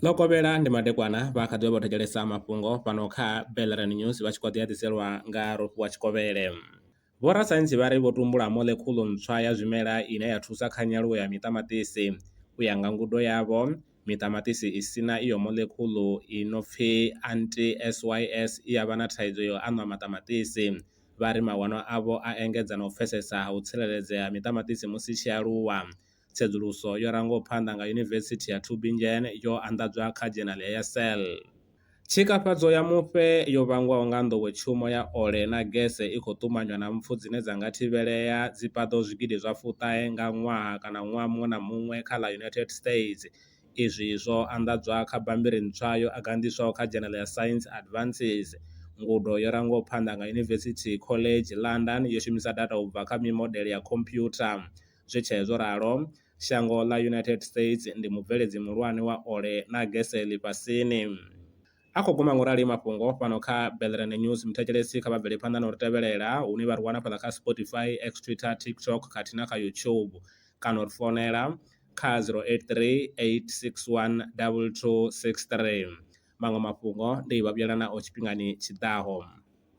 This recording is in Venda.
ḽo kovhela ndi madekwana vha kha ḓi vha vho thetshelesa mafhungo fhano kha belran news vha tshi kho ḓi a ḓiselwa nga rofhiwa tshikovhele vhorasaintsi vha ri vho tumbula molekhulu ntswa ya zwimela ine ya thusa kha nyaluwo ya miṱamaṱisi u ya nga ngudo yavho miṱamaṱisi i sina iyo molekhulu i no pfi anti sys i ya vha na thaidzo yo aṋwa maṱamaṱisi vha ri mawanwa avho a engedza na u pfesesa ha u tsireledzea ha miṱamaṱisi musi i tshi aluwa. Tsedzuluso yo rangaho phanḓa nga Yunivesithi ya Tübingen yo anḓadzwa kha dzhenali ya Cell. Tshikafhadzo ya mufhe yo vhangwaho nga nḓowetshumo ya ole na gese i khou ṱumanywa na mpfu dzine dza nga thivhelea dzi paḓaho zwigidi zwa fuṱahe nga ṅwaha kana ṅwaha muṅwe na muṅwe kha ḽa United States, Izwi zwo anḓadzwa kha bammbiri ntswa yo agandiswaho kha dzhenele ya Science Advances. Ngudo yo rangwaho phanḓa nga University College London yo shumisa data u bva kha mimodele ya khomphyutha. Zwi tshee zwo ralo, shango ḽa United States ndi mubveledzi muhulwane wa ole na gese ḽifhasini. A khou guma nga u rali mafhungo fhano kha Belrand News. Muthetshelesi kha vha bvele phanḓa na u ri tevhelela hune vha ri wana fhaḽa kha Spotify, X, Twitter, TikTok khathihi na kha YouTube kana u ri founela kha 083 861 2263. Maṅwe mafhungo ndi vha vhuyela nao tshifhingani tshi ḓaho.